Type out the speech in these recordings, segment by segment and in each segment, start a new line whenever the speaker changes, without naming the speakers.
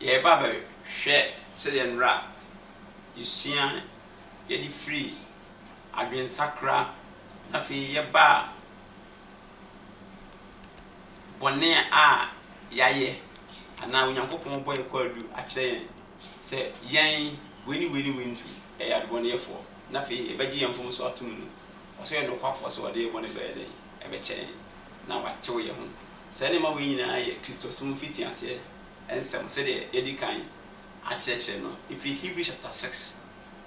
Yɛreba abɛhwɛ sɛdeɛ nnora a yɛsua yɛde firi adwensakra na afei yɛba a bɔne a yɛayɛ anaa Onyankopɔn bɔ yɛn kwaadu akyerɛ yɛn. Sɛ yɛn, wei ne wei ne wei nti yɛyɛ adebɔneyɛfoɔ, na afei yɛbɛgye yɛn mfomsoɔ atom no, ɔsɛ ɔyɛ nokwafoɔ sɛ ɔde yɛn bɔne bɛyɛ dɛn? Ɛbɛkyɛ yɛn, na watew yɛn ho. Saa nneɛma wei nyinaa yɛ Kristosom mfitiaseɛ nsɛm sɛdeɛ yɛadi kan akyerɛkyerɛ no ɛfiri Hebrews chapter six,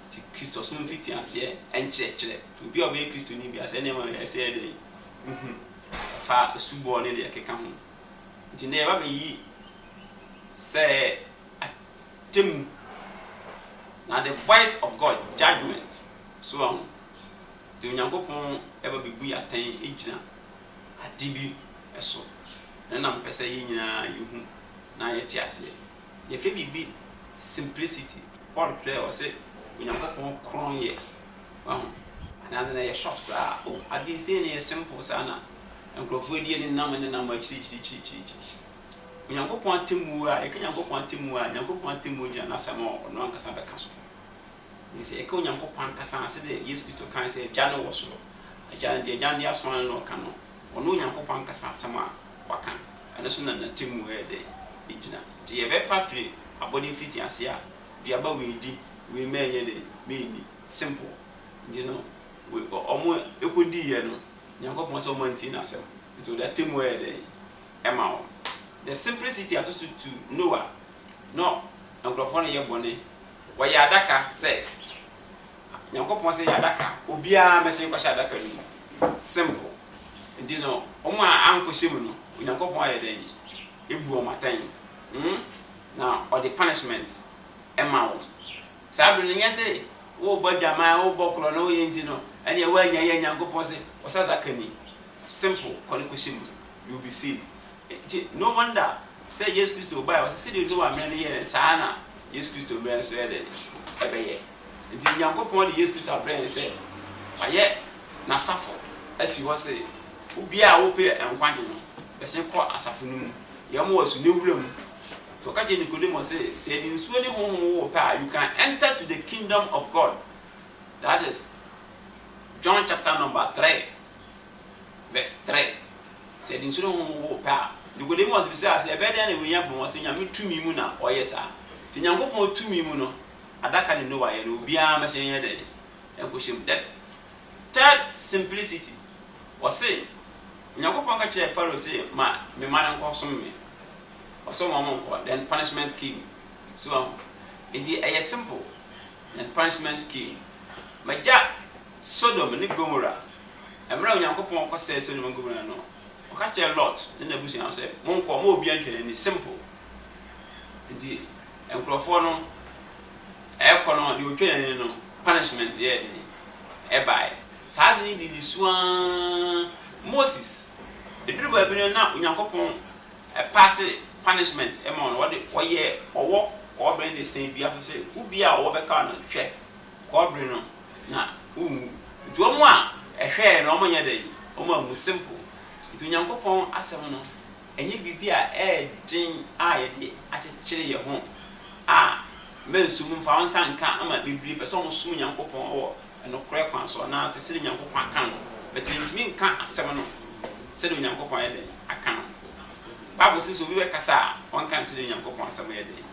nti Kristosom mfitiaseɛ nkyerɛkyerɛ, nti obi a ɔbɛyɛ Kristoni biara saa nneɛma wei ɛsɛ yɛ dɛn? Wohu, ɛfa asubɔ ne deɛ ɛkeka ho, nti nnɛ yɛba bɛyi sɛ atemmu, na the voice of God, judgement, so wahu, nti Onyankopɔn ba bɛbu yɛn atɛn gyina ade bi so, na na mepɛ sɛ yɛn nyinaa yɛhu na yɛte aseɛ. Yɛfɛ biribi simplicity, Paul twerɛɛ ɔse Onyankopɔn kron yɛ, wahu, anaa na yɛ short koraa, oh ade sei na ɛyɛ simple saa na nkurɔfoɔ die nenam nenam akyirikyirikyirikyiri, Onyankopɔn atemmuo a, yɛka Nyankopɔn atemmuo a, Nyankopɔn atemmuo gyina N'asɛm a Ɔno ankasa bɛka so. Nti sɛ yɛka Onyankopɔn ankasa a, sɛdeɛ Yesu Kristo kae sɛ Agya no wɔ soro, Agya no, deɛ Agya no de asoma no na ɔka no, ɔno Onyankopɔn ankasa asɛm a Waka, ɛno so na N'atemmuo yɛ dɛn? Ɛgyina. Nti yɛbɛfa firi abɔde mfitiaseɛ a, duaba wei di, wei mɛnyɛ dɛn? Menni. Simple. Nti no, wɔn ɛkɔdiiɛ no, Nyankopɔn sɛ wɔn antie N'asɛm, nti Ɔde atemmuo yɛ dɛn? ma wɔn. The simplicity ato so tu Noah no nkurɔfoɔ no yɛ bɔne wɔyɛ adaka sɛ Nyankopɔn sɛ yɛ adaka obiara mɛsen kɔhyɛ adaka no mu simple nti no wɔn a ankɔhyɛ mu no Onyankopɔn ayɛ dɛn ebu wɔn atɛn hmm na ɔde punishment ɛma wɔn saa bere no nyɛ sɛ wobɔ adwaman wobɔ korɔ na woyɛ nti no ɛneɛ woanya yɛ Nyankopɔn sɛ ɔsɛ adaka ni simple kɔ ne kɔhyɛ mu you'll be safe Nti no wonder sɛ Yesu Kristo bae ɔse sɛdeɛ Noah mmerɛ no yɛɛ saa ara na Yesu Kristo mmerɛ nso yɛ dɛn? Ɛbɛyɛ Nti Nyankopɔn de Yesu Kristo abrɛ yɛn sɛ wayɛ N'asafo asi hɔ se obiara a ɔpɛ nkwagye no bɛsen kɔ asafo no mu deɛ ɔma wɔso ne wura mu Nti ɔka kyerɛ Nikodemo se sɛ yɛde nsuo ne Honhom wo wo pɛ a you can enter to the kingdom of God that is John chapter number 3 vs. 3, Sɛ nsu no honhom wo pɛ a. Nicodemus bisaa sɛ, Ɛbɛyɛ dɛn na wei aba mu? Ɔse, Nyame tumi mu na ɔyɛ saa. Nti Nyankopɔn tumi mu no, adaka ne Noah yɛ no, obiara mmɛhyɛ nyɛ dɛn? Nkɔhyɛ mu. That third simplicity. Ɔse, Onyankopɔn ka kyerɛɛ Pharaoh se, Ma me mma no nkɔ som me. Ɔsom wɔn nkɔ, then punishment came. So wahu? Nti ɛyɛ simple, then punishment came. M'agya Sodom ne Gomora, mmerɛ a Onyankopɔn kɔsɛee Sodom ne Gomora no, Ɔka kyerɛɛ Lot ne n'abusua no sɛ, Monkɔ, momma obiara ntwa n'ani. Simple. Nti nkorɔfoɔ no ɛrekɔ no, deɛ ɔtwaa n'ani no, punishment yɛɛ dɛn? Ɛbaeɛ. Saa ade no didi so ara, Moses, ɛduru baabi no na Onyankopɔn paase punishment ma wɔn, Ɔde, Ɔyɛɛ ɔwɔ kɔɔbɛn de sɛn dua so sɛ, Obiara a ɔwɔ bɛka no, hwɛ, Kɔbere no, na wonwu. Nti wɔn a ɛhwɛɛ no, wɔnyɛ dɛn? Wɔn ammu. Simple. Nti Onyankopɔn Asɛm no, ɛnyɛ biribi a ɛyɛ den a yɛde akyekyere yɛn ho a mɛnsom no, mfa wo nsa nka ama bebree pɛ sɛ wɔsom Onyankopɔn wɔ nokorɛ kwan so anaasɛ sɛdeɛ Onyankopɔn aka no, but mentumi nka Asɛm no sɛdeɛ Onyankopɔn ayɛ dɛn? Aka no. Bible se sɛ obi bɛkasa a, ɔnka no sɛdeɛ Onyankopɔn Asɛm yɛ dɛn?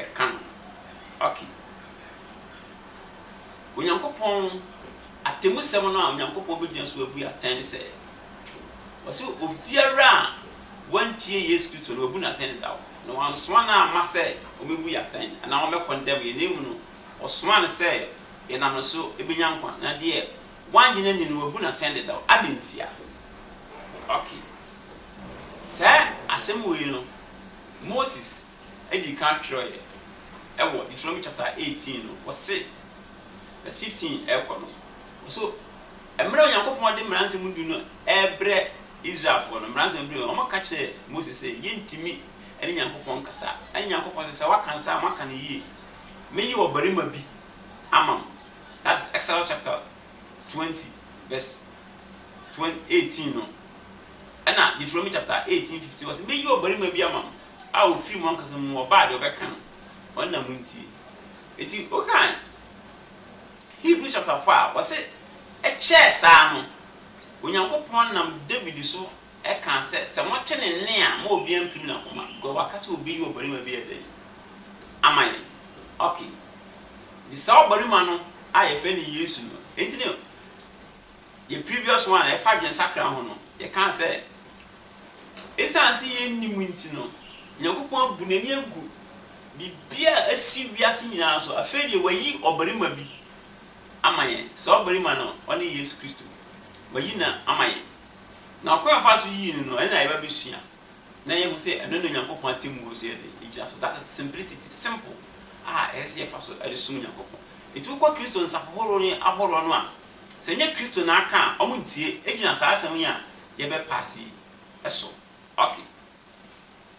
Ɛka no. Okay. Onyankopɔn atemmusɛm no a Onyankopɔn begyina so abu atɛn ne sɛ, ɔse obiara a wantie Yesu Kristo no, wabu no atɛn dedaw. Na wansoma no amma sɛ ɔmmɛbu yɛn atɛn anaa ɔmmɛkɔndɛm yɛn, na mmom no, ɔsomaa no sɛ yɛnam ne so bɛnya nkwa. Na deɛ wannye no anni no, wabu no atɛn dedaw. Adɛn ntia? Ok. Saa asɛm wei no, Moses dii kan twerɛeɛ wɔ Deuteronomy chapter eighteen no, ɔse, verse fifteen rekɔ no, ɔse, Mmerɛ a Onyankopɔn de Mmara Nsɛm Du no rebrɛ Israelfoɔ no, Mmara Nsɛm Du no, wɔka kyerɛɛ Mose sɛ, Yɛntumi ne Nyankopɔn nkasa. Ɛna Nyankopɔn se, Sɛ woaka no saa a, moaka no yie. Meyi ɔbarima bi ama mo. That is Exodus chapter twenty verse eighteen no. Ɛna Deuteronomy chapter eighteen fifteen, ɔse, Meyi ɔbarima bi ama mo. a ofii mo ankasa mu ɔbaa deɛ ɔbɛka no, ɔno na montie. Enti wokan Hebrews chapter four a, wɔse ɛkyɛɛ saa no, Onyankopɔn nam David so kaa sɛ, sɛ mote ne nne a, mma obiara mpirim n'akoma, because waka sɛ obeyi ɔbarima bi ayɛ dɛn? Ama yɛn. Okay. Nti saa ɔbarima no a yɛfrɛ no Yesu no, enti ne. yɛn previous one a ɛfa adwensakra ho no, yɛkaa sɛ esiane sɛ yennim nti no, Onyankopɔn abu n'ani agu biribiara a asi wiase nyinaa so. Afei deɛ wayi ɔbarima bi ama yɛn. Saa ɔbarima no, ɔne Yesu Kristo. Wayi no ama yɛn. Na ɔkwan a ɔfaa so yii no no, ɛno na yɛba bɛsua na yɛahu sɛ ɛno na Onyankopɔn atemmuo nso yɛ dɛn? Ɛgyina so. That's a simplicity, simple a ɛsɛ sɛ yɛfa so de som Nyankopɔn. Enti wokɔ Kristo nsafo horow no ahoroɔ no a, Sɛ ɛnyɛ Kristo na aka a, wɔntie. Egyina saa asɛm yi a yɛrebɛpa ase yi so. Ok.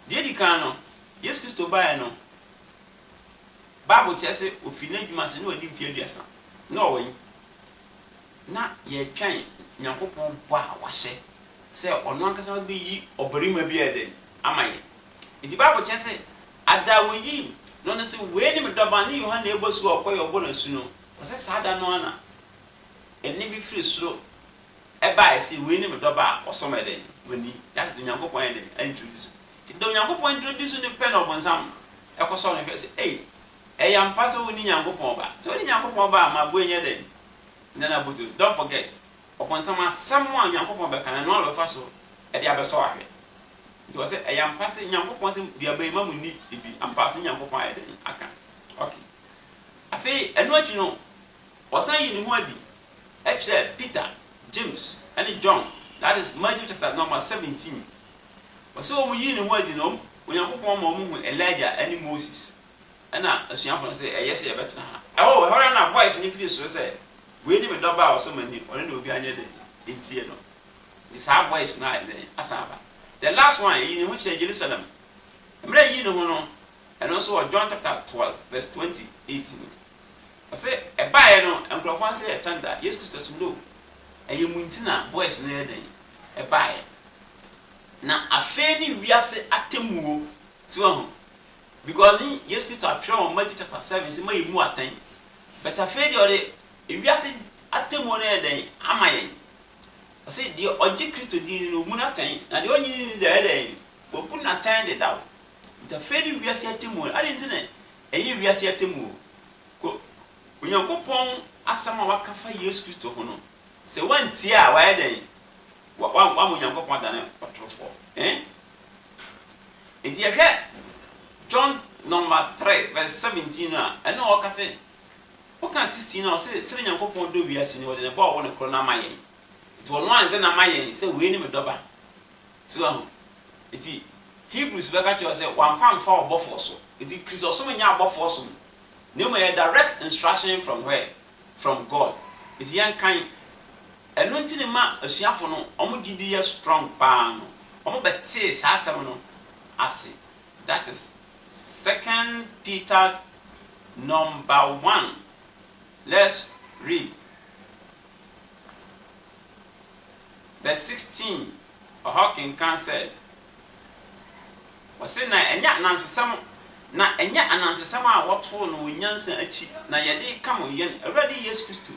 Deɛ edi kan no, Yesu Kristo baeɛ no, Bible kyerɛ sɛ ɔfiri n'adwuma ase na wadi mfeɛ aduasa. Na ɔwɔ he? Na yɛretwɛn Nyankopɔn bɔ a wahyɛ sɛ ɔno ankasa bɛyi ɔbarima bi ayɛ dɛn? Ama yɛn. Enti Bible kyerɛ sɛ ada a wɔyii no no se, Wei ne me dɔba, ne Yohane a ɛbɔ asu a ɔkɔ yi a ɔbɔ no asu no. Na sɛ saa da no ara na ɛnne bi firi soro baeɛ se, Wei ne me dɔba a ɔsɔ me dɛn, m'ani, that is Onyankopɔn ayɛ dɛn aintroduce no. Nti da Onyankopɔn introduce no pɛ na ɔbonsam kɔsɔ no hwɛ se, Ei, ɛyɛ ampa sɛ wone Nyankopɔn Ba? Sɛ wone Nyankopɔn Ba a, ma boe nyɛ dɛn? Nyɛ no abotire. Don't forget, ɔbonsam asɛm a Onyankopɔn bɛka no, ɛno ara na ɔbɛfa so de abɛsɔ wo ahwɛ. Nti ɔse, Ɛyɛ ampa se Nyankopɔn se, Duaba yi, mma monni bi, ampa so ne Nyankopɔn ayɛ dɛn aka? Okay. Afei ɛno akyi no, ɔsan yii ne ho adi kyerɛɛ Peter, James, ne John, that is, Matthew chapter number seventeen. Ɔse wɔn yii ne ho adi no, Onyankopɔn ma wɔn hu Elijah ne Moses. Ɛna asuafo no se, ɛyɛ sɛ yɛbɛtena ha. Ɛhɔ ɛhɔ ara na voice no firi soro sɛ, Wei ne me dɔba a ɔsɔ m'ani, ɔno na obiara nyɛ dɛn? Ntie no. Nti saa voice no ayɛ dɛn? Asan aba. The last one, ɛyii ne ho kyerɛɛ Jerusalem. Mmerɛ ɛyii ne ho no, Ɛno nso wɔ John chapter twelve verse twenty eight mu. Ɔse ɛbaeɛ no nkorɔfoɔ ano sɛ yɛ thunder, Yesu Kristo se no, ɛyɛ mo nti na voice no yɛ dɛn? Ɛbaeɛ. Na afei ne wiase atemmuo, so wahu? Because ne Yesu Kristo atwerɛ wɔ Matthew chapter seven sɛ moayɛ mu atɛn, but afei deɛ ɔde ewiase atemmuo no ayɛ dɛn? Ama yɛn. Ɔse deɛ ɔgye Kristo din no wɔbu no atɛn, na deɛ ɔnnye ne din no deɛ wayɛ dɛn? Wɔabu no atɛn dedaw. Nti afei ne wiase atemmuo no, adɛn nti na ɛnyɛ wiase atemmuo? Ko, Onyankopɔn asɛm a waka fa Yesu Kristo ho no, sɛ woantie a, wayɛ dɛn? Wa, wa, wama Onyankopɔn adane ɔtorofoɔ. Ɛn? Nti yɛhwɛ John nɔma 3 vs 17 no a, ɛno na ɔka se, woka 16 no a, ɔse, Sɛdeɛ Onyankopɔn dɔ wiase no, ɔde ne Ba a ɔwɔ no korɔ no ama yɛn. Nti ɔno ara na ɛde no ama yɛn sɛ, Wei ne me dɔba, So woahu? Enti Hebrews bɛka kyerɛ wo sɛ wamfa amfa ɔbɔfoɔ so. Enti Kristosom nyɛ abɔfoɔ som, na mmom ɛyɛ direct instruction from where? From God. Enti yɛnkan, ɛno nti ne ma asuafo no wɔn gyidi yɛ strong paa no, wɔbɛtee saa asɛm no ase. That is Second Peter number one, let's read. vɛs 16 ɔhɔ kenkan sɛ, Wɔse na ɛnyɛ anansesɛm, na ɛnyɛ anansesɛm a wɔtoo no wɔ nyansa akyi na yɛde reka mo yɛn Awurade Yesu Kristo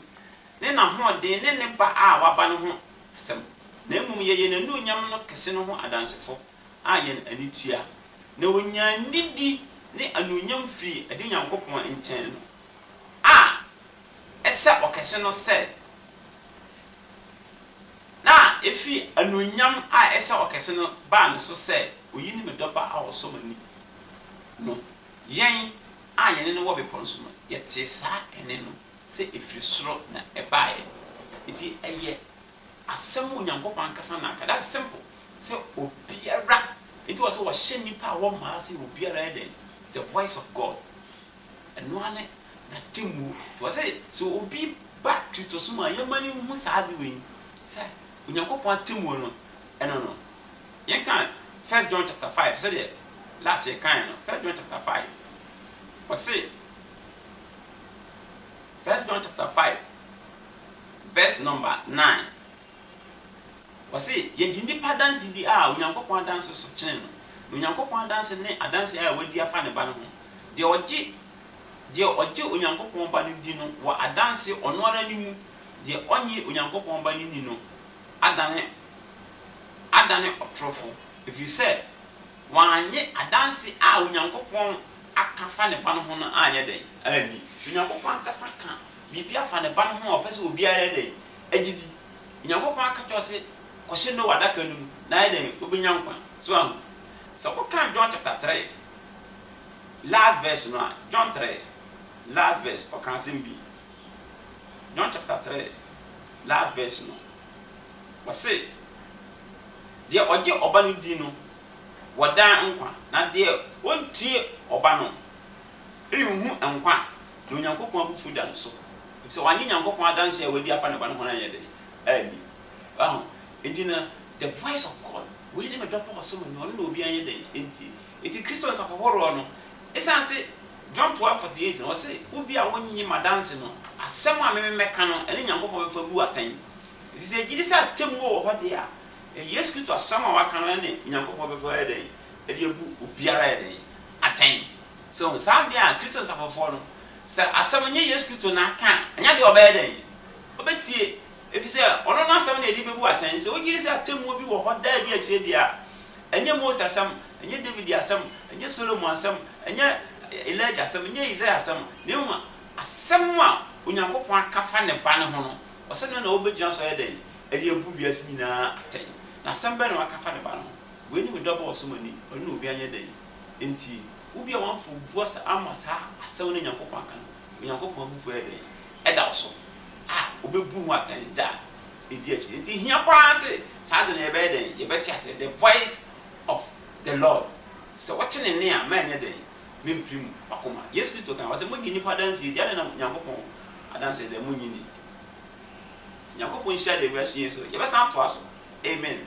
ne n'ahoɔden ne ne ba a waba no ho asɛm, na mmom yɛyɛ n'anuonyam no kɛse no ho adansefo a yɛn ani tua, na wɔnyaa nidi ne anuonyam firii ɛde Nyankopɔn nkyɛn no a ɛsɛ ɔkɛse no sɛ na efi anuonyam a ɛsɛ ɔkɛse no baa ne so sɛ, Oyi ne me dɔba a ɔsɔ m'ani no. Yɛn a yɛne no wɔ bepɔw no so no, yɛtee saa nne no sɛ efi soro na ɛbae. Enti ɛyɛ asɛm a Onyankopɔn ankasa na aka. That's simple sɛ obiara, enti wɔ sɛ wɔhyɛ nnipa a wɔmmaa ase obiara yɛ dɛn? The voice of God. Ɛno ara ne n'atemmuo. Nti ɔse, sɛ obi ba Kristosom a, yɛmma no nhu saa ade wei, sɛ Onyankopɔn atemmuo no, ɛno no, yɛnka First John chapter five, sɛdeɛ last yɛkaeɛ no, First John chapter five, ɔse, First John chapter five verse number nine. Ɔse, Yɛgye nnipa adanse di a Onyankopɔn adanse so kyene no, na Onyankopɔn adanse ne adanse a wadi afa ne Ba no ho. Deɛ ɔgye, deɛ ɔgye Onyankopɔn Ba no di no wɔ adanse ɔno ara ne mu, deɛ ɔnnye Onyankopɔn Ba no nni no adane, adane ɔtorofo, ɛfiri sɛ wannye adanse a Onyankopɔn aka afa ne Ba no ho no anyɛ dɛn? anni. Onyankopɔn ankasa ka biribi afa ne Ba no ho a ɔpɛ sɛ obiara yɛ dɛn? agyidi. Onyankopɔn aka kyerɛ wo se kɔhyɛ Noah adaka no mu na ayɛ dɛn? Wobɛnya nkwa. So woahu? Sɛ wokan John chapter three last verse no a, John three last verse, ɔka asɛm bi. John chapter three last verse no, ɔse, Deɛ ɔgye ɔba no di no wɔ daa nkwa, na deɛ ɔntie ɔba no renhu nkwa Na Onyankopɔn abufuw da no so, efisɛ wannye Nyankopɔn adanse a wadi afa ne Ba no ho no anyɛ dɛn? anni. Wahu? Enti na the voice of God, Wei ne me dɔ ba ɔsom no, ɔno na obiara nyɛ dɛn? ntie. Enti Kristo nsafo horoɔ no, esiane se John twelve forty eight no, ɔse, Obi a onnye m'adanse no, asɛm a me me mɛka no, ɛne Nyankopɔn bɛfa abu atɛn. Enti sɛ yɛgye di sɛ atemmuo wɔ hɔ deɛ a, Yesu Kristo asɛm a waka no, ɛne Nyankopɔn bɛfa ayɛ dɛn? de abu obiara ayɛ dɛn? atɛn. So wohu saa bea a Kristo nsafofoɔ no, sɛ asɛm nyɛ Yesu Kristo na aka a, anya deɛ ɔbɛyɛ dɛn? Ɔbɛtie, ɛfiri sɛ ɔno no asɛm na yɛde bɛbu atɛn. Sɛ wogye di sɛ atemmuo bi wɔ hɔ daa bi akyire deɛ a, ɛnyɛ Mose asɛm, ɛnyɛ David asɛm, ɛnyɛ Solomon asɛm, ɛnyɛ Elijah asɛm, ɛnyɛ Isaiah asɛm, na mmom asɛm a Onyankopɔn aka afa ne Ba no ho no, ɔsɛ no na wobɛgyina so ayɛ dɛn? Ɛde abu wiase nyinaa atɛn. Na asɛm bɛn na waka afa ne Ba no ho? Wei ne me dɔba a ɔsɔ m'ani, ɔno na obiara nyɛ dɛn? Enti, obi a wamfa obu ase amma saa asɛm no a Onyankopɔn aka no, Onyankopɔn abufuo ayɛ dɛn? Ɛda wo so a, ɔbɛbu ho atɛn da a ɛdi akyire. Enti, ɛhia pa ara sɛ saa ade no yɛbɛyɛ dɛn? Yɛbɛte aseɛ. The voice of the Lord. Sɛ wote ne nne a, mɛnyɛ dɛn? Mempirim w'akoma. Yesu Kristo kae, ɔse, Mogye nnipa adanseɛ di, adɛn na Onyankopɔn adanseɛ deɛ, monnye nni? Nti, Nyankopɔn nhyira deɛ wei asua yi so. Yɛbɛsan atoa so. Amen.